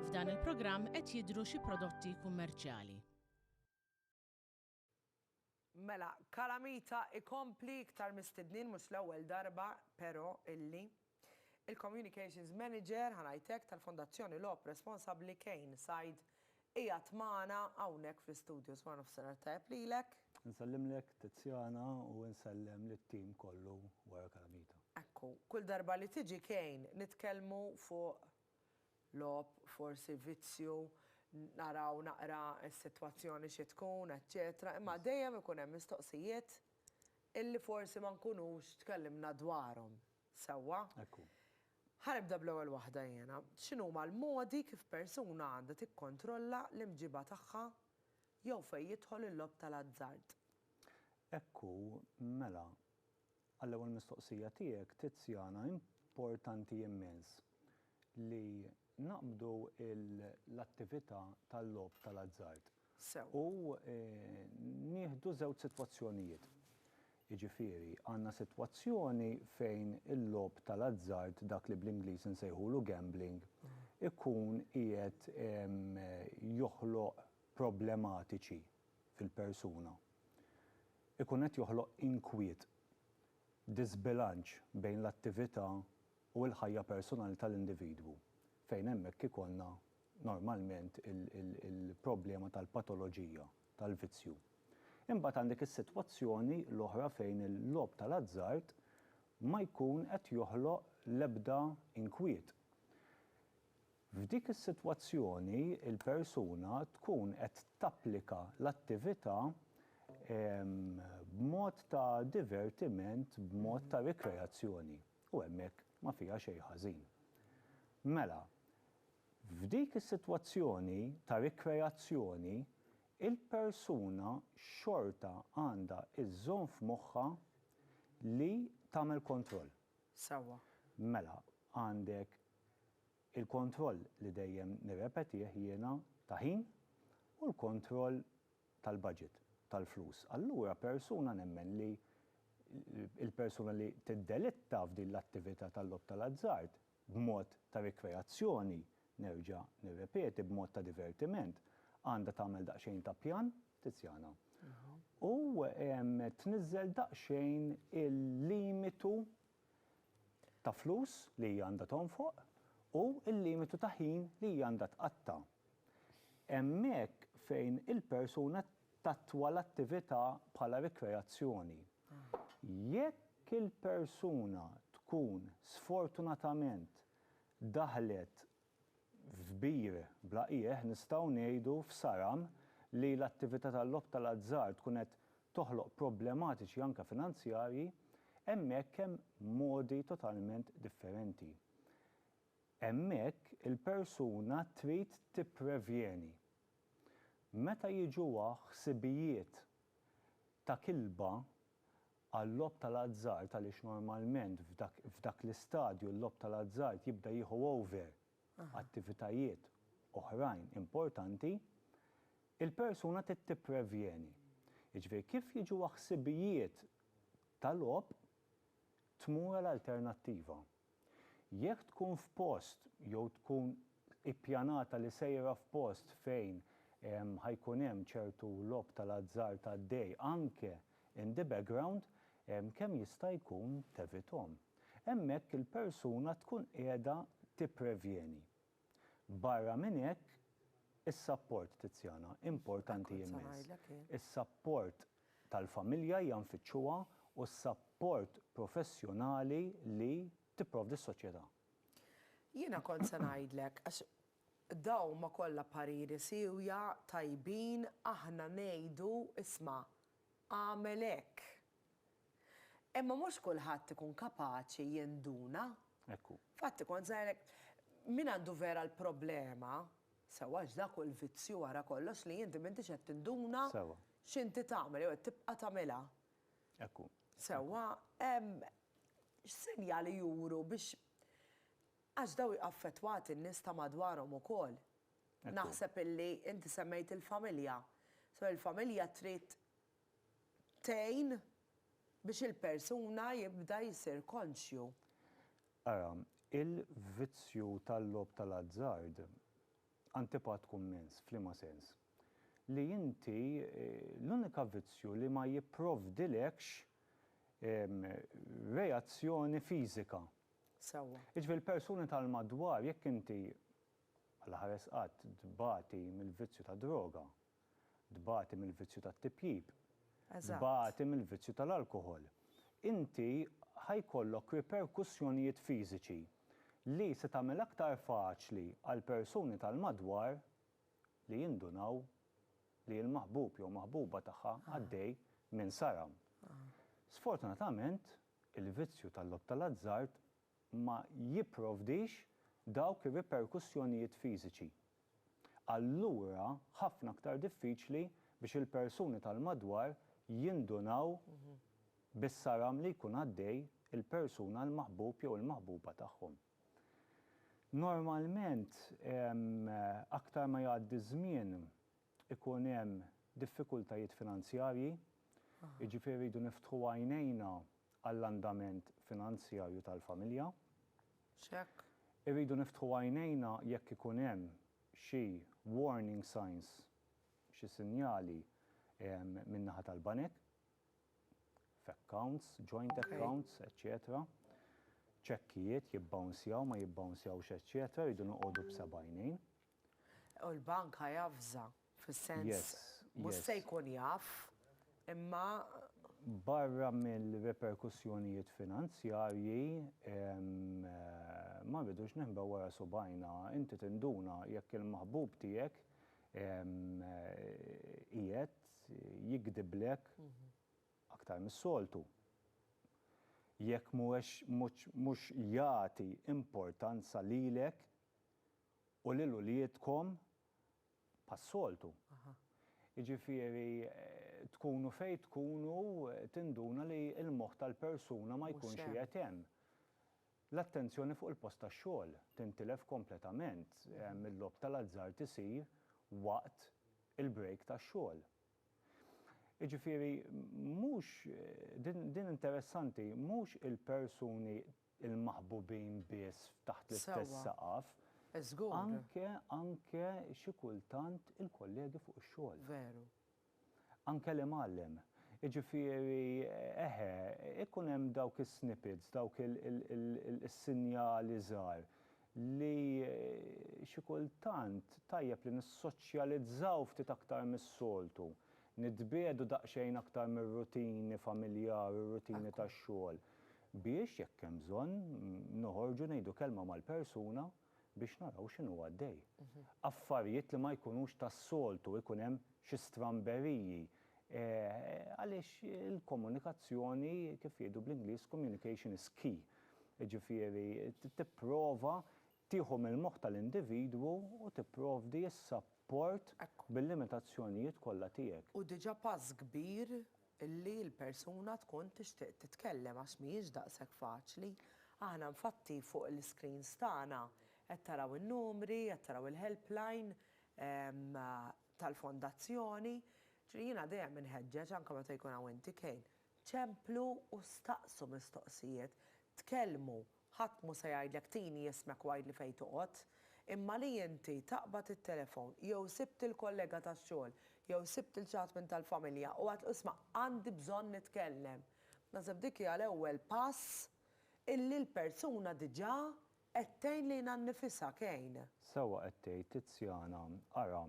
F'dan il-programm qed jidhru xi prodotti kummerċjali. Mela, Calamita ikompli iktar mistednin mhux l-ewwel darba, pero, illi. Il-Communications Manager, ħa ngħid hekk, tal-Fondazzjoni Logħob Responsabbli Kane Said qiegħed magħna hawnhekk fl-istudios. Wara nofsinhar tajjeb lilek. Insellimlek Tiziana u insellem lit-tim kollu wara Calamita. Ekku, kull darba li tiġi Kane nitkellmu fuq logħob, forsi vizzju, naraw naqra s-sitwazzjoni xi tkun, eċċetera, imma dejjem ikun hemm mistoqsijiet illi forsi ma nkunux tkellimna dwarhom. Sewwa. Hekk hu. Ħa nibda bl-ewwel waħda jiena. X'inhuma l-modi kif persuna għandha tikkontrolla l-imġiba tagħha jew fejn jidħol il-logħob tal-azzard? Hekk hu, mela, għall-ewwel mistoqsija tiegħek, Tiziana, importanti immens li naqbdu l-attività tal-logħob tal-azzard. Sew. U nieħdu żewġ sitwazzjonijiet. Jiġifieri, għandna sitwazzjoni fejn il-logħob tal-azzard, dak li bl-Ingliż insejħulu gambling, ikun qiegħed joħloq problematiċi fil-persuna. Ikun qed joħloq inkwiet, diżbilanċ bejn l-attività u l-ħajja personali tal-individwu, fejn hemmhekk ikollna normalment il-problema tal-patoloġija, tal-vizzju. Imbagħad għandek is-sitwazzjoni l-oħra fejn il-logħob tal-azzard ma jkun qed joħloq l-ebda inkwiet. F'dik is-sitwazzjoni l-persuna tkun qed tapplika l-attività b'mod ta' divertiment, b'mod ta' rikreazzjoni. U hemmhekk ma fiha xejn ħażin. Mela, f'dik is-sitwazzjoni ta' rikreazzjoni, il-persuna xorta għandha żżomm f'moħħha li tagħmel kontroll. Sewwa. Mela, għandek il-kontroll li dejjem nirrepetih jiena ta' ħin u l-kontroll tal-budget, tal-flus. Allura persuna nemmen li l-persuna li tiddelitta f'din l-attività tal-logħob tal-azzard b'mod ta' rikreazzjoni, nerġa' nirrepeti, b'mod ta' divertiment, għandha tagħmel daqsxejn ta' pjan, Tiziana, u tniżżel daqsxejn il-limitu ta' flus li hija għandha tonfoq u l-limitu ta' ħin li hija għandha tqatta'. Hemmhekk fejn il-persuna tattwa l-attività bħala rikreazzjoni. Jekk il-persuna tkun sfortunatament daħlet f'bir bla qiegħ, nistgħu ngħidu f'saram, li l-attività tal-logħob tal-azzard tkun qed toħloq problematiċi anke finanzjarji, hemmhekk hemm modi totalment differenti. Hemmhekk il-persuna trid tipprevjeni. Meta jiġuha ħsibijiet ta' kilba għal-logħob tal-azzard għaliex normalment f'dak l-istadju l-logħob tal-azzard jibda jieħu over attivitajiet oħrajn importanti, il-persuna trid tipprevjeni. Jiġifieri kif jiġuha ħsibijiet ta' logħob tmur għal alternattiva. Jekk tkun f'post jew tkun ippjanata li sejra f'post fejn ħa jkun hemm ċertu logħob tal-azzard għaddej anke in the background, kemm jista' jkun tevithom. Hemmhekk il-persuna tkun qiegħda tipprevjeni. Barra minn hekk, is-sapport, Tiziana, importanti immens. Is-sapport tal-familja hija nfittxuha u s-sapport professjonali li tipprovdi s-soċjetà. Jiena kont se ngħidlek, għax dawma kollha pariri siewja, tajbin, aħna ngħidu, isma', agħmel hekk. Imma mhux kulħadd ikun kapaċi jinduna. Hekk hu. Infatti kont se ngħidlek, min għandu vera l-problema, sewwa għax dak hu l-vizzju wara kollox li inti m'intix qed tinduna x'inti tagħmel jew qed tibqa' tagħmilha. Hekk hu. Sewwa, x'sinjali juru biex għax dawn jaffettwati n-nies ta' madwarhom ukoll. Naħseb illi inti semmejt il-familja. So il-familja trid tgħin biex il-persuna jibda jsir konxju. Ara, il-vizzju tal-logħob tal-azzard, antipat kummens, f'liema sens? Li inti, l-unika vizzju li ma jipprovdilekx reazzjoni fiżika. Sewwa. Jiġifieri l-persuni tal-madwar, jekk inti, bħala ħares qatt, tbati mill-vizzju tad-droga, Tbati mill-vizzju tat-tipjip. Eżatt. Tbati mill-vizzju tal-alkoħol. Inti ħa jkollok riperkussjonijiet fiżiċi li se tagħmel aktar faċli għall-persuni tal-madwar li jindunaw li l-maħbub jew maħbuba tagħha għaddej minn saram. Sfortunatament, il-vizzju tal-logħob tal-azzard ma jipprovdix dawk ir-riperkussjonijiet fiżiċi. Allura ħafna aktar diffiċli biex il-persuni tal-madwar jindunaw bis-saram li jkun għaddej il-persuna l-maħbub jew il-maħbuba tagħhom. Normalment aktar ma jgħaddi ż-żmien ikun hemm diffikultajiet finanzjarji, jiġifieri rridu niftħu għajnejna għall-andament finanzjarju tal-familja. X'hekk. Irridu niftħu għajnejna jekk ikun hemm xi warning signs, xi sinjali min-naħa tal-banek, f'accounts, joint accounts, eċċetera. Ċekkijiet jibbawnzjaw, ma jibbawnzjawx, eċċetera, rridu noqogħdu b'seba' għajnejn. U l-bank ħa javża, fis-sens, mhux se jkun jaf, imma. Barra mir-riperkussjonijiet finanzjarji, ma rridux ninħbew wara subgħajna, inti tinduna jekk il-maħbub tiegħek qiegħed jigdiblek aktar mis-soltu, jekk mhuwiex mhux jagħti importanza lilek U lil uliedkom bħas-soltu. Jiġifieri tkunu fejn tkunu tinduna li l-moħħ tal-persuna ma jkunx qiegħed hemm. L-attenzjoni fuq il-post tax-xogħol tintilef kompletament, il-logħob tal-azzard isir waqt il-break tax-xogħol. Jiġifieri mhux, din interessanti, mhux il-persuni il-maħbubin biss f'taħt l-istess saqaf. Sewwa. Żgur. Anke, anke xi kultant il-kollegi fuq ix-xogħol. Veru. Anke l-imgħallem. Jiġifieri, eħe, ikun hemm dawk is-snippets, dawk is-sinjali żgħar li xi kultant tajjeb li nissoċjalizzaw ftit aktar mis-soltu, nitbiegħdu daqsxejn aktar mir-rutini familjari, r-rutini tax-xogħol. biex, jekk hemm bżonn, noħorġu ngħidu kelma mal-persuna biex naraw x'inhu għaddej. Affarijiet li ma jkunux tas-soltu, ikun hemm xi stramberiji, għaliex il-komunikazzjoni, kif jgħidu bl-Ingliż, communication is key. Jiġifieri tipprova Tieħu mill-moħħ tal-individwu u tipprovdi s-sapport bil-limitazzjonijiet kollha tiegħek. Hu diġà pass kbir li l-persuna tkun tixtieq titkellem għax mhijiex daqshekk faċli. Aħna nfatti fuq l-iscreens tagħna qed taraw in-numri, qed taraw il-helpline tal-fondazzjoni. Ġifieri jiena dejjem inħeġġeġ anke meta jkun hawn inti Kane, ċemplu u staqsu mistoqsijiet, tkellmu Ħadd mhu se jgħidlek tini ismek u għidli fejn toqgħod. Imma li inti taqbad it-telefon jew sibt il-kollega tax-xogħol jew sibt lil xi ħadd minn tal-familja u għidtlu isma' għandi bżonn nitkellem. Naħseb dik hija l-ewwel pass illi l-persuna diġà qed tgħin lilha nnifisha, Kane. Sewwa qed tgħid Tiziana. Ara,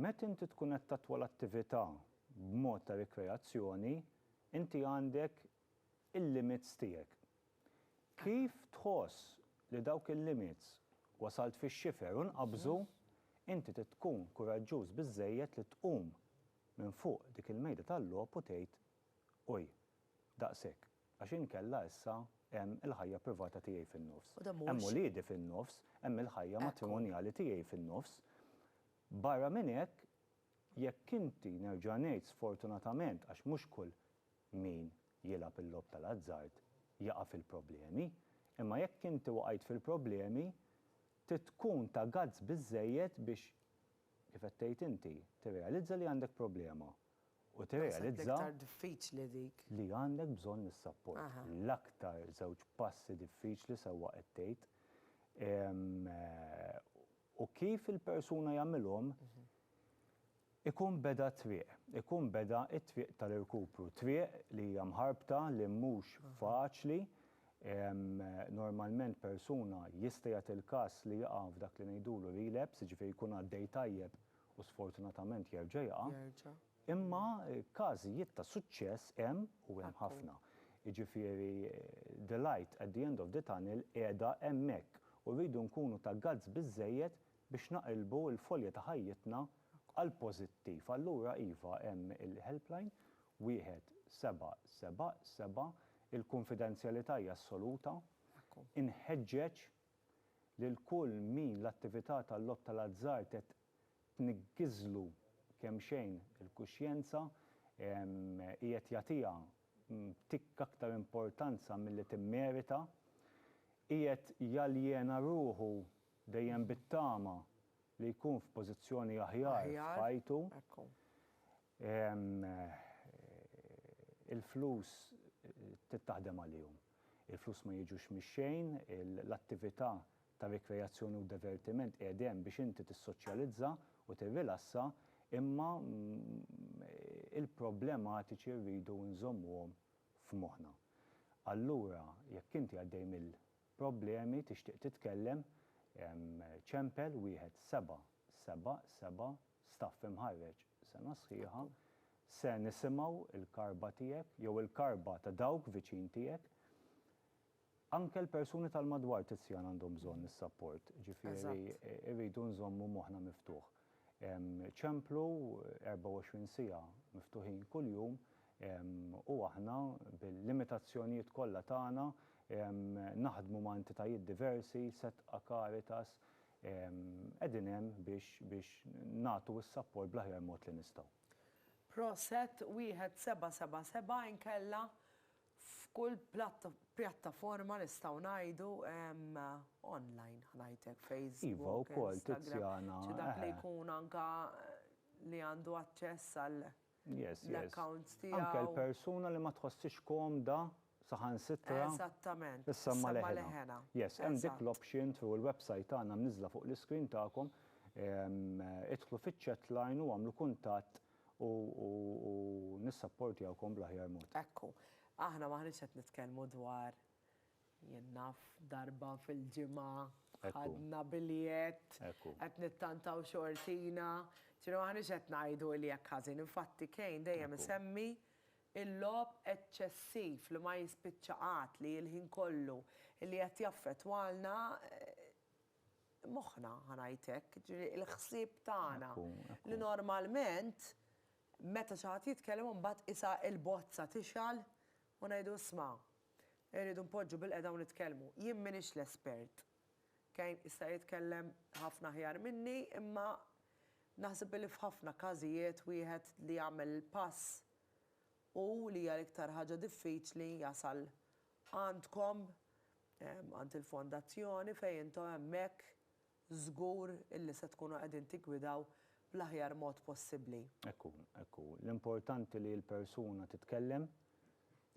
meta inti tkun qed tattwa l-attività b'mod ta' rikreazzjoni, inti għandek il-limits tiegħek. Kif tħoss li dawk il-limits wasalt fix-xifer u nqabżu, inti trid tkun kuraġġuż biżżejjed li tqum minn fuq dik il-mejda tal-logħob u tgħid, Uj, daqshekk, għax inkella issa hemm il-ħajja privata tiegħi fin-nofs, hemm uliedi fin-nofs, hemm il-ħajja matrimonjali tiegħi fin-nofs. Barra minn hekk, jekk inti, nerġa' ngħid sfortunatament għax mhux kull Min jilgħab il-logħob tal-azzard jaqa' fil-problemi, imma jekk inti waqajt fil-problemi, trid tkun ta' guts biżżejjed biex, kif qed tgħid inti, tirrealizza li għandek problema u tirrealizza li għandek bżonn is-sapport. L-aktar żewġ passi diffiċli sewwa qed tgħid. u kif il-persuna jagħmilhom, ikun beda t-triq, ikun beda t-triq tal-irkupru. Triq li hija mħarbta, li mhux faċli, normalment persuna jista' jagħti il-każ li jaqa' f'dak li ngħidulu relapse, jiġifieri jkun għaddej tajjeb u sfortunatament jerġa' jaqa'. Imma każijiet ta' suċċess hemm u hemm ħafna. Jiġifieri the light at the end of the tunnel qiegħda hemmhekk u rridu nkunu ta' guts biżżejjed biex naqilbu l-folja ta' ħajjitna għal pożittiv. Allura iva hemm il-helpline wieħed seba' seba' seba', il-kunfidenzjalità hija assoluta. Inħeġġeġ lil kull min l-attività tal-logħob tal-azzard qed tniggiżlu kemxejn il-kuxjenza, qiegħed jagħtiha tikk aktar importanza milli timmerita, qiegħed jaljena ruħu dejjem bit-tama li jkun f'pożizzjoni aħjar f'ħajtu. Il-flus trid taħdem għalihom. Il-flus ma jiġux mix-xejn, l-attività ta' rikreazzjoni u divertiment qiegħed hemm biex inti tissoċjalizza u tirrilassa imma il-problematiċi rridu nżommuhom f'moħħna. Allura jekk inti għaddej mill-problemi tixtieq titkellem, ċempel wieħed seba' seba' seba' staff imħarreġ sena sħiħa se nisimgħu l-karba tiegħek jew il-karba ta' dawk viċin tiegħek. Anke l-persuni tal-madwar Tiziana għandhom bżonn is-sapport, ġifieri rridu nżommu moħħna miftuħ. Ċemplu 24 siegħa miftuħin kuljum u aħna bil-limitazzjonijiet kollha tagħna naħdmu ma' entitajiet diversi, Setqa, Caritas, qegħdin hemm biex biex nagħtu s-sapport bl-aħjar mod li nistgħu. Proset, wieħed seba' seba' seba' inkella f'kull pjattaforma nistgħu ngħidu online ħa ngħid hekk Facebook, Instagram, xi dak li jkun anke li għandu aċċess għal l-accounts tiegħu. Anke l-persuna li ma tħossiex komda saħansitra issemma' leħinha. Yes, hemm dik l-option through il-website tagħna mniżżla fuq l-iscreen tagħkom. Idħlu fiċ-chatline u għamlu kuntatt u nissapportjawkom bl-aħjar mod. Ekku, aħna m'aħniex qed nitkellmu dwar, jien naf, darba fil-ġimgħa, ħadna biljett, qed nittantaw xortina, ġifieri m'aħniex qed ngħidu li hekk ħażin. Infatti Kane dejjem isemmi l-logħob eċċessiv li ma jispiċċa qatt, li l-ħin kollu, li qed jaffettwalna moħħna, ħa ngħid hekk, jiġifieri l-ħsieb tagħna. Li normalment meta xi ħadd jitkellem u mbagħad qisha l-bozza tixgħal u ngħidu isma' irridu npoġġu bilqiegħda u nitkellmu. Jien m'iniex l-espert. Kane jista' jitkellem ħafna aħjar minni imma naħseb li f'ħafna każijiet wieħed li jagħmel il-pass hu li hija l-iktar ħaġa diffiċli jasal Għandkom, għand il-Fondazzjoni, fejn intom hemmhekk żgur illi se tkunu qegħdin tiggwidaw bl-aħjar mod possibbli. Hekk hu, hekk hu. L-importanti li l-persuna titkellem,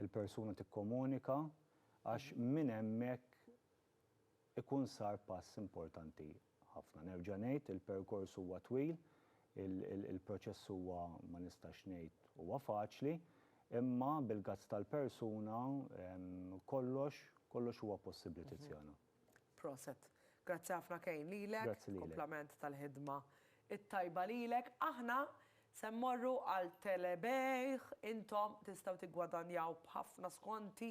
il-persuna tikkomunika, għax minn hemmhekk ikun sar pass importanti ħafna. Nerġa' ngħid, il-perkors huwa twil, il-proċess huwa, ma nistax ngħid, huwa faċli, imma bil-guts tal-persuna kollox, kollox huwa possibbli Tiziana. Proset. Grazzi ħafna Kane lilek. Grazzi lilek. Kumplament tal-ħidma t-tajba lilek. Aħna se mmorru għal telebejgħ. Intom tistgħu tiggwadanjaw b'ħafna skonti.